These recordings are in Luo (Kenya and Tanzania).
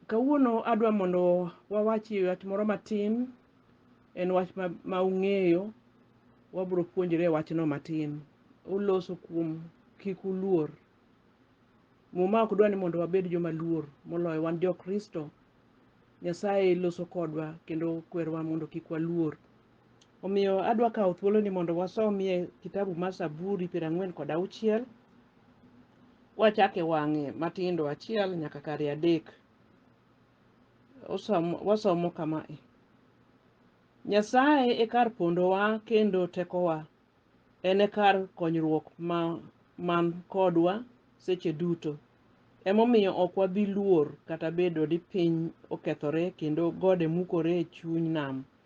Kawuono adwa mondo wawach e wach moro matin, en wach ma, ma ung'eyo, wabiro puonjore e wachno matin. Oloso kuom kik uluor. Muma ok dwa ni mondo wabed joma luor, moloyo wan jo Kristo. Nyasaye loso kodwa kendo kwerowa mondo kik waluor Omiyo adwa kawo thuoloni mondo wasomie kitabu mar Zaburi piero ang'wen kod auchiel kwachako e wang'e matindo achiel nyaka kare adek. Osomo, wasomo kama e. Nyasaye e kar pondowa kendo tekowa, en e kar konyruok ma man kodwa seche duto. Emomiyo ok wabi luor kata bedo ni piny okethore kendo gode mukore e chuny nam.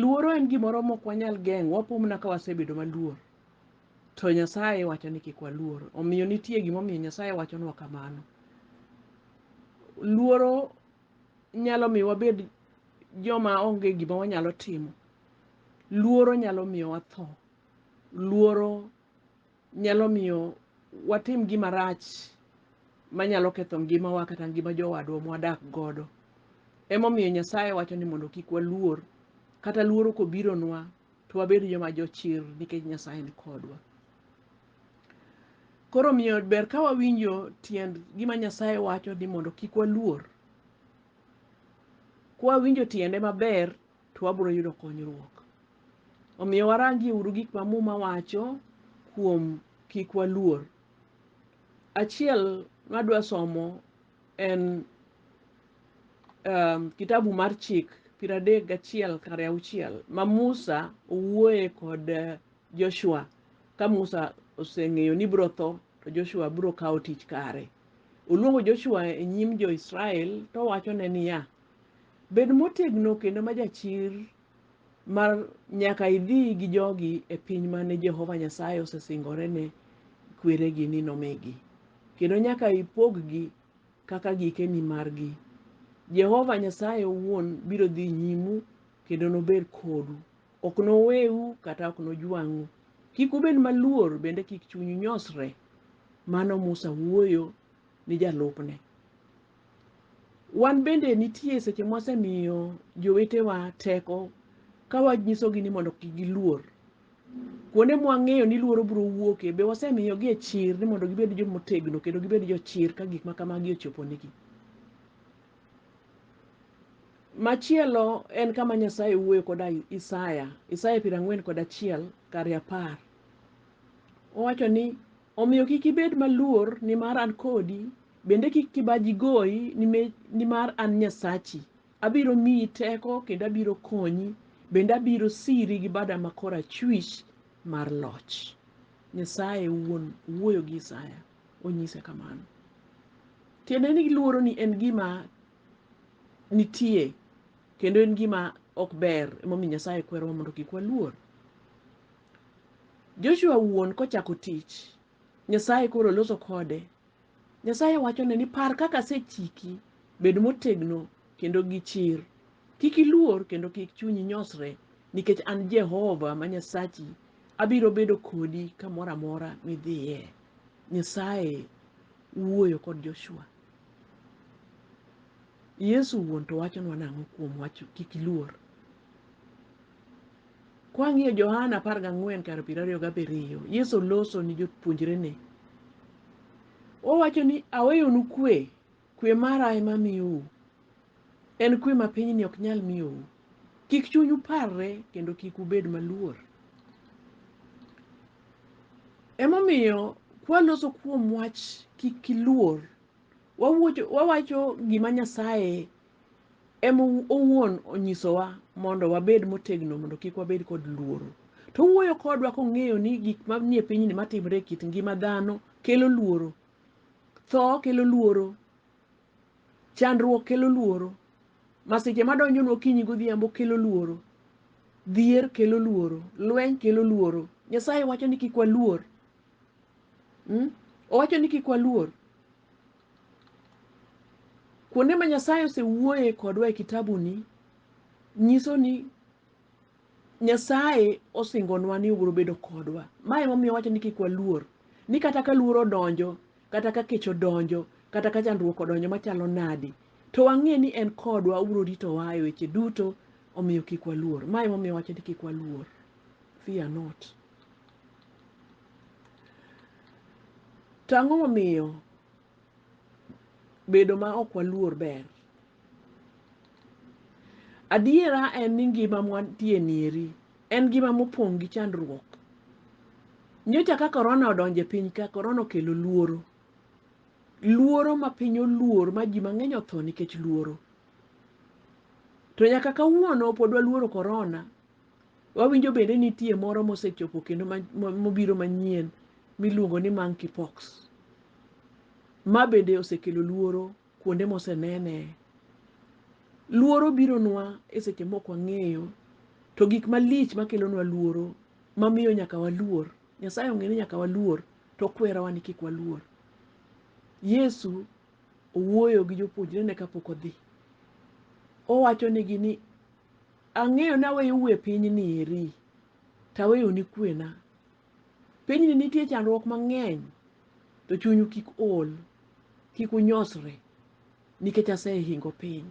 luoro en gimoro mok wanyal geng'o wapo mana ka wasebedo maluor to nyasaye wacho ni kik waluor omiyo nitie gimomiyo nyasaye wachonwa kamano luoro nyalo miyo wabed joma onge gima wanyalo timo luoro nyalo miyo watho luoro nyalo miyo watim gima rach manyalo ketho ngimawa kata ngima jowadwa mwadak godo. Emomiyo Nyasaye wacho ni mondo kik waluor, kata luoro kobironwa to wabed joma jochir nikech Nyasaye ni kodwa. Koro omiyo ber ka wawinjo tiend gima Nyasaye wacho ni mondo kik waluor. Kwawinjo tiende maber to wabiro yudo konyruok. Omiyo warangie uru gik ma Muma wacho kuom kik waluor. Achiel madwa somo en um, kitabu mar chik piero adek gachiel kare auchiel ma Musa owuoye kod eh, Joshua ka Musa oseng'eyo ni biro tho to Joshua biro kawo tich kare. Oluongo Joshua e nyim jo-Israel towachone niya, Bed motegno kendo ma jachir mar nyaka idhi gi jogi e piny mane Jehova Nyasaye osesingore ne kweregi ni nomigi, kendo nyaka ipog-gi kaka gikeni margi. Jehova Nyasaye owuon biro dhi nyimu kendo nobed kodu. Ok noweu kata ok nojwang'u. Kik ubed maluor bende kik chunyu nyosre. Mano Musa wuoyo ni jalupne. Wan bende nitie seche mwasemiyo jowetewa teko ka wanyisogi ni mondo kik giluor. Kuonde mwang'eyo ni luoro biro wuokie, be wasemiyogie chir ni mondo gibed joma otegno kendo gibed jochir ka gik ma kamagi ochoponegi? Machielo en kama Nyasaye wuoyo koda Isaya, Isaya piero ang'wen kod achiel kar apar. Owacho ni. Omiyo kik ibed maluor, nimar an kodi, bende kik kibaji goyi, nimar an Nyasachi. Abiro miyi teko kendo abiro konyi, bende abiro siri gi bada ma korachwich mar loch. Nyasaye owuon owuoyo gi Isaya, onyise kamano. Tiende ni luoroni en gima nitie kendo en gima ok ber, emomiyo Nyasaye kwerowa mondo kik waluor. Joshua wuon kochako tich, Nyasaye koro loso kode. Nyasaye wachone ni par kaka asechiki, bed motegno kendo gi chir. Kik iluor kendo kik chunyi nyosre, nikech an Jehova ma Nyasachi abiro bedo kodi kamoro amora midhiye. Nyasaye wuoyo kod Joshua. Yesu wuon to wachonwa nang'o kuom wach kik iluor? Kwang'iyo Johana apar gang'wen kar piero ariyo gabiriyo, Yesu loso ni jopuonjrene. Owacho ni aweyonu kwe, kwe mara ema amiyou. En kwe ma pinyni ok nyal miyou. Kik chunyu parre kendo kik ubed maluor. Emomiyo kwaloso kuom wach kik iluor, wawuocho- wawacho gima Nyasaye em owuon onyisowa mondo wabed motegno mondo kik wabed kod luoro. To owuoyo kodwa kong'eyo ni gik manie pinyni matimre e kit ngima dhano kelo luoro. Tho kelo luoro, chandruok kelo luoro, masiche madonjonu okinyi godhiambo kelo luoro, dhier kelo luoro, lweny kelo luoro. Nyasaye wacho ni kik waluor. Mm? Owacho ni kik waluor. kuonde ma nyasaye osewuoye kodwa e kitabuni nyiso ni nyasaye osingonwa ni obiro bedo kodwa ma emomiyo wacho ni kik waluor ni kata ka luoro odonjo kata ka kech odonjo kata ka chandruok odonjo machalo nadi to wang'e ni en kodwa obiro ritowa e weche duto omiyo kik waluor ma emomiyo wacho ni kik waluor fear not To ang'o momiyo bedo ma ok waluor ber? Adiera en ni ngima mwantie nieri en ngima mopong' gi chandruok. Nyocha ka korona odonjo e piny ka, korona okelo luoro. Luoro ma piny oluor ma ji mang'eny otho nikech luoro. To nyaka kawuono pod waluoro korona wawinjo bende nitie moro mosechopo kendo mobiro manyien miluongo ni monkeypox ma bende osekelo luoro kuonde mosenene luoro bironwa e seche mok wang'eyo to gik malich makelonwa luoro mamiyo nyaka waluor nyasaye ong'e ni nyaka waluor to okwerowa ni kik waluor yesu owuoyo gi jopuonjrene kapok odhi owachonigi ni Ang'eyo naweyo u e pinyni eri, to aweyoni kwena. Pinyni nitie chandruok mang'eny, to chunyu kik ol, kik unyosre, nikech asehingo piny.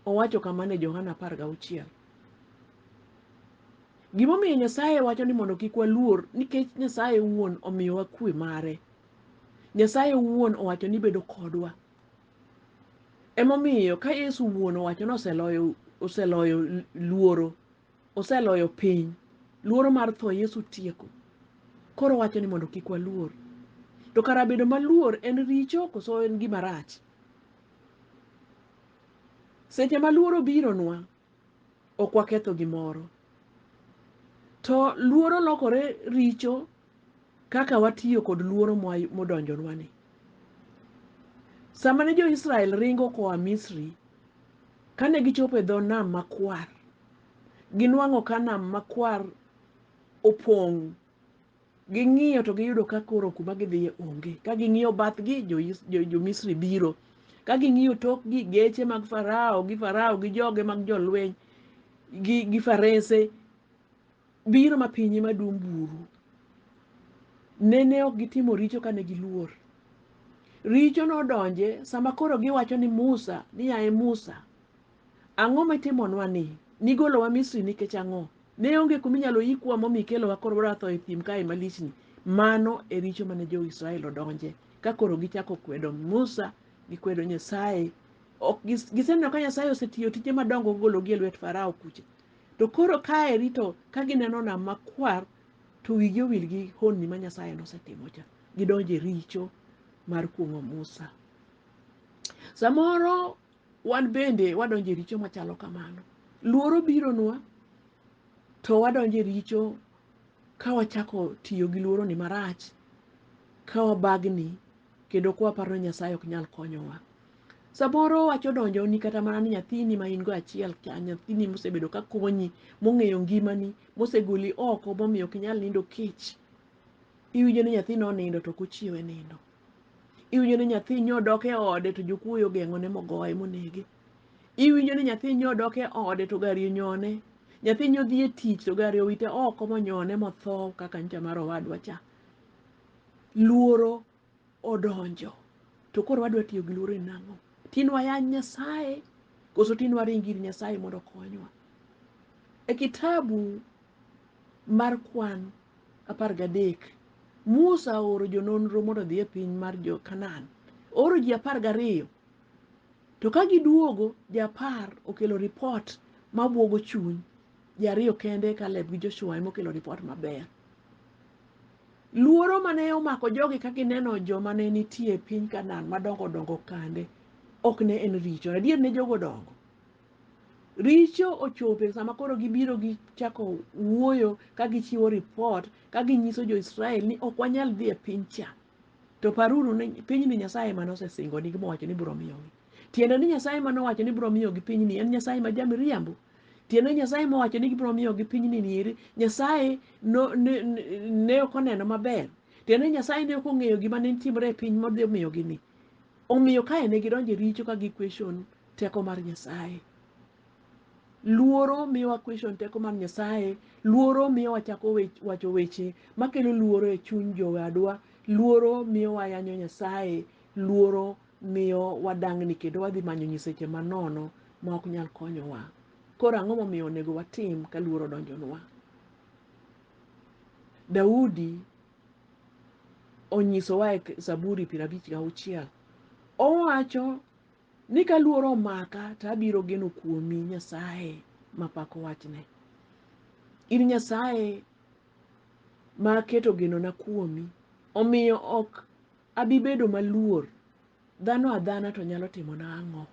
Owacho kamano e Johana apar gauchiel. Gimomiyo Nyasaye wacho ni mondo kik waluor, nikech Nyasaye owuon omiyowa kwe mare. Nyasaye owuon owacho ni bedo kodwa. Emomiyo ka Yesu wuon owacho ni oseloyo oseloyo luoro, oseloyo piny, luoro mar tho Yesu tieko. Koro wacho ni mondo kik waluor. To kara bedo maluor en richo koso en gima rach? Seche ma luoro bironwa, ok waketho gimoro. To luoro lokore richo kaka watiyo kod luoro mwa- modonjonwani. Sama ne jo-Israel ringo koa Misri, kane gichopo e dho nam makwar, ginwang'o ka nam makwar opong' Ging'iyo to giyudo ka koro kuma gidhiye onge. Ka ging'iyo bathgi, jo-Misri biro. Ka ging'iyo tokgi, geche mag Farao gi Farao gi joge mag jolweny gi farese biro ma pinye madum buru. Nene ok gitimo richo kane giluor. Richo nodonje sama koro giwacho ni Musa ni yaye Musa, ang'o mitimonwa ni? Nigolowa Misri nikech ang'o? Ne onge kuma inyalo yikwa momi ikelowa koro wadwa tho e thim kae malichni. Mano e richo mane jo-Israel odonje ka koro gichako kwedo Musa, gikwedo Nyasaye. Ok gis- giseneno ka Nyasaye osetiyo tije madongo kogologi e lwet Farao kucha. To koro kaeri to ka gineno nam makwar to wigi owil gi honni ma Nyasaye nosetimo cha. Gidonjo e richo mar kuong'o Musa. Samoro wan bende wadonjo e richo machalo kamano. Luoro bironwa to wadonjo e richo ka wachako tiyo gi luoroni marach, ka wabagni kendo ka waparo ni Nyasaye ok nyal konyowa. Samoro wach odonjoni kata mana ni nyathini ma in go achiel cha, nyathini mosebedo ka konyi, mong'eyo ngimani, mosegoli oko momiyo ok inyal nindo kech, iwinjo ni nyathino onindo to ok ochiewe nindo. iwinjo ni nyathi nyo odok e ode to jokuoyo ogeng'one mogoye monege iwinjo ni nyathi nyo odok e ode to gari onyone nyathi nyo dhi e tich to gari owite oko monyone motho kaka ncha mar owadwa cha luoro odonjo to koro wadwa tiyo gi luoro e nang'o tin wayany nyasaye koso tin waring ir nyasaye mondo okonywa e kitabu mar kwan apar gadek musa ooro jononro mondo odhi e piny mar jo kanan ooro ji apar gariyo to ka giduogo ji apar okelo ripot mabwogo chuny ji ariyo kende kaleb gi joshua ema okelo ripot maber luoro mane omako jogi ka gineno joma ne nitie e piny kanan madongo dongo kande ok ne en richo adier ne jogo dongo richo ochope sama koro gibiro gichako wuoyo ka gichiwo ripot ka ginyiso jo-israel ni ok wanyal dhi e piny cha to paruru ni pinyni nyasaye ema nosesingonigi mowacho ni biro miyogi tiende ni nyasaye ema nowacho ni biro miyogi pinyni en nyasaye ma jamiriambo tiende ni nyasaye mowacho ni gibiro miyogi pinyni nieri nyasaye no- ne- ne ne ok oneno maber tiende ni nyasaye ne ok ong'eyo gima ne timore e piny modhi miyogi ni Omiyo kae ne gidonjo e richo ka gi question teko mar Nyasaye. Luoro miyowa question teko mar Nyasaye, luoro miyo wachako wacho weche makelo luoro e chuny jowadwa, luoro miyo wayanyo Nyasaye, luoro miyo wadang'ni kendo wadhi manyo nyiseche manono ma ok nyal konyowa. Koro ang'o momiyo onego watim ka luoro donjonwa? Daudi onyisowa e Zaburi piero abich gauchiel. Owacho ni ka luoro omaka to abiro geno kuomi Nyasaye mapako wachne. In Nyasaye ma aketo genona kuomi, omiyo ok Abi bedo maluor, dhano adhana to nyalo timona ang'o?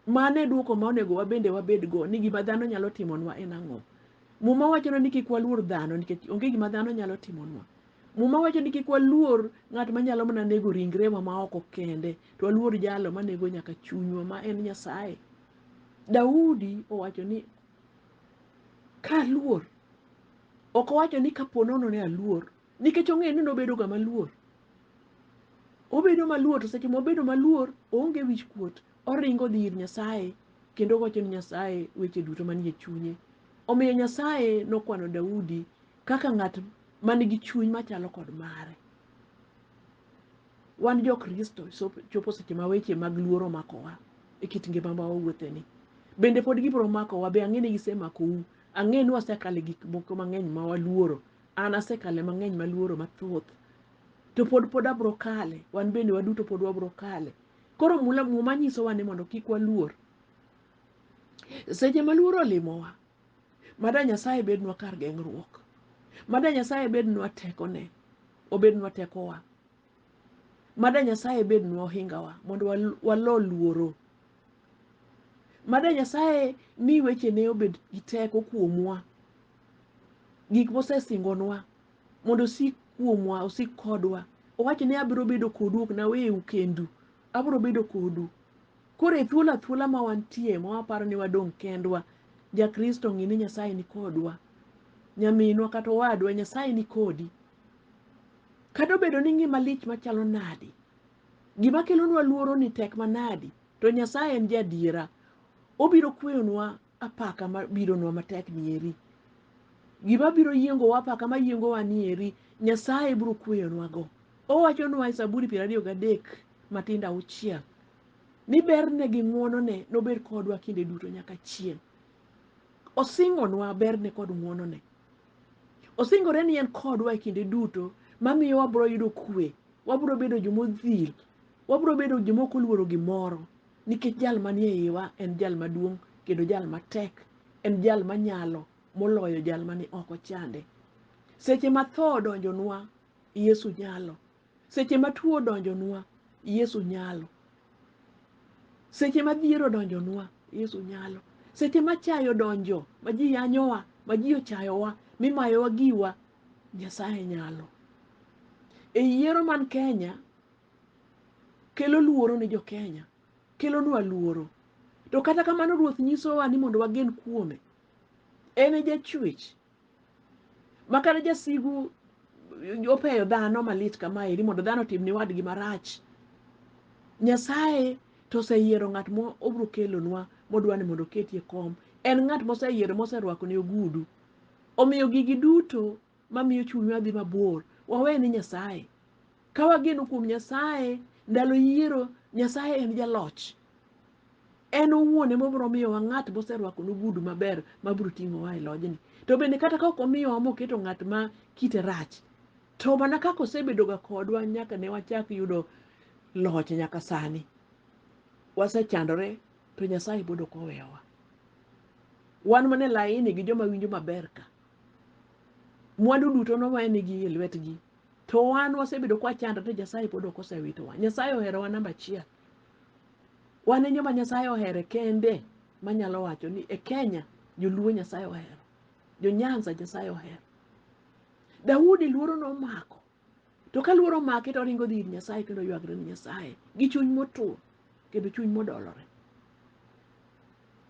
Mano e dwoko ma onego wabende wabedgo ni gima dhano nyalo timonwa en ang'o? Muma wachonwa ni kik waluor dhano nikech onge gima dhano nyalo timonwa. Muma wacho ni kik waluor ng'at ma nyalo mana nego ringrewa ma oko kende, to waluor jalo ma nego nyaka chunywa ma en Nyasaye. Daudi owacho ni kaluor, ok owacho ni kapo nono ni aluor, Nikech ong'eyo ni nobedoga maluor. Obedo maluor to seche mobedo maluor oonge wich kuot. Oringo odhi ir Nyasaye kendo owacho ni Nyasaye weche duto manie chunye. Omiyo Nyasaye nokwano Daudi kaka ng'at man gi chuny machalo kod mare. Wan jo Kristo chopo seche ma weche mag luor omakowa e kit ngima ma wawuotheni. Bende pod gibiro makowa, be ang'e ni gisemako u? Ang'e ni wasekale gik moko mang'eny ma waluoro. An asekale mang'eny maluoro mathoth. To pod pod abro kale. Wan bende waduto pod wabro kale. Koro mula muma nyisowa ni mondo kik waluor. Seche maluoro olimowa, mada Nyasaye bednwa kar geng'ruok. Mada Nyasaye bednwa tekone, obednwa tekowa. Mada Nyasaye bednwa ohingawa mondo walo luoro. Mada Nyasaye mi wechene obed gi teko kuomwa, gik mosesingonwa mondo osik kuomwa, osik kodwa. Owacho ni abiro bedo kodu, ok naweu kendu, abiro bedo kodu. Koro e thuolo athuola ma wantie ma waparo ni wadong' kendwa, ja Kristo ng'e ni Nyasaye ni kodwa. Nyaminwa kata owadwa, Nyasaye ni kodi. Kata obedo ni ngima lich machalo nadi, gima kelonwa luoro ni tek manadi, To Nyasaye en jaadiera, obiro kweyonwa apaka mabironwa matek nieri. Gima biro yiengowa apaka mayiengowa nieri, Nyasaye biro kweyonwago. Owachonwa e Zaburi piero ariyo gadek matindo auchiel ni berne gi ng'wonone nobed kodwa kinde duto nyaka chieng'. Osingonwa berne kod ng'wonone. Osingore ni en kodwa e kinde duto mamiyo wabiro yudo kwe, wabiro bedo jomodhil Wabiro bedo joma ok oluoro gimoro nikech jal manie iwa en jal maduong' kendo jal matek, en jal manyalo moloyo jal mani oko chande. Seche ma tho odonjonwa, Yesu nyalo. Seche ma tuo odonjonwa, Yesu nyalo. Seche ma dhier odonjonwa, Yesu nyalo. Seche ma chayo donjo, ma ji yanyowa, ma ji ochayowa, mimayowa giwa, Nyasaye nyalo. E yiero man Kenya, kelo luoro ne jokenya kelonwa luoro to kata kamano ruoth nyisowa ni mondo wagen kuome en e jachwech ma kata jasigu opeyo dhano malit kamaeri mondo dhano otim ni wadgi marach nyasaye to oseyiero ng'at ma obiro kelonwa modwa ni mondo oketie kom en ng'at moseyiero moserwako ne ogudu omiyo gigi duto mamiyo chunywa dhi mabor wawe ne nyasaye ka wageno kuom nyasaye ndalo yiero nyasaye en jaloch en owuon ema obiro miyowa ng'at moserwako nogudu maber mabiro ting'owa e lojni to bende kata ka ok omiyowa moketo ng'at ma kite rach to mana kaka osebedoga kodwa nyaka ne wachak yudo loch nyaka sani wasechandore to nyasaye pod ok oweyowa wan mana e laini gi joma winjo maber ka mwandu duto nowenigi e lwetgi to wan wasebedo kwa chandre to Nyasaye pod ok osewitowa. Nyasaye oherowa namba achiel. Wan e joma Nyasaye ohere kende manyalo wacho ni e Kenya joluo Nyasaye ohero, jo Nyanza Nyasaye ohero. Daudi luoro nomako to ka luoro omake to oringo dhi ir nyasaye kendo oywagre ni nyasaye gi chuny motur kendo chuny modolore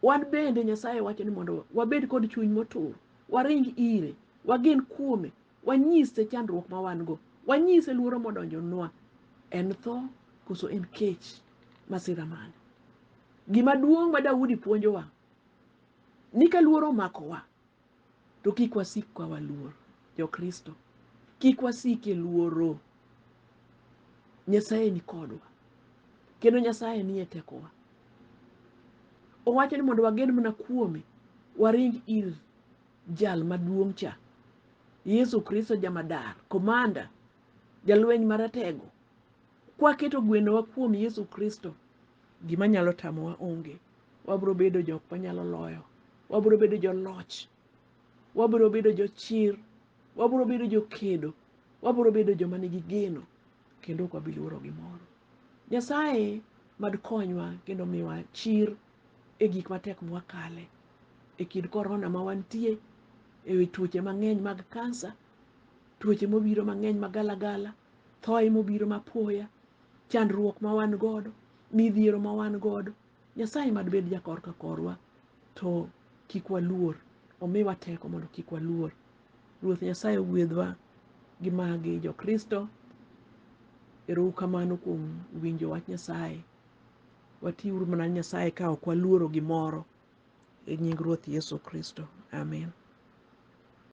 wan bende nyasaye wacho ni mondo wabed kod chuny motur waring ire wagen kuome wanyise chandruok ma wan go wanyise luoro modonjonwa en tho koso en kech masira mane gima duong' ma daudi puonjowa ni ka luoro omakowa To kik wasik ka waluor Jokristo, kik wasik e luoro. Nyasaye ni kodwa kendo Nyasaye nie tekowa. Owacho ni mondo wagen mana kuome, waring ir jal maduong' cha, Yesu Kristo jamadar, komanda, jalweny maratego. Kwaketo gwenowa kuom Yesu Kristo, Gima nyalo tamowa onge. Wabiro bedo jok manyalo loyo. Wabiro bedo joloch. Wabiro bedo jochir. Wabiro bedo jokedo. Wabiro bedo joma nigi geno kendo ok wabi luoro gimoro. Nyasaye mad konywa kendo miwa chir e gik matek mwakale e kind korona ma wantie, e wi tuoche mang'eny mag kansa, tuoche mobiro mang'eny magalagala, thoye mobiro mapoya, chandruok ma wan godo, midhiero ma wan godo. Nyasaye mad bed jakor ka korwa to kik waluor, omiwa teko mondo kik waluor. Ruoth Nyasaye ogwedhwa gi magi jo Kristo. Erou kamano kuom winjo wach Nyasaye. Watiuru mana Nyasaye ka ok waluoro gimoro. E nying Ruoth Yesu Kristo. Amin.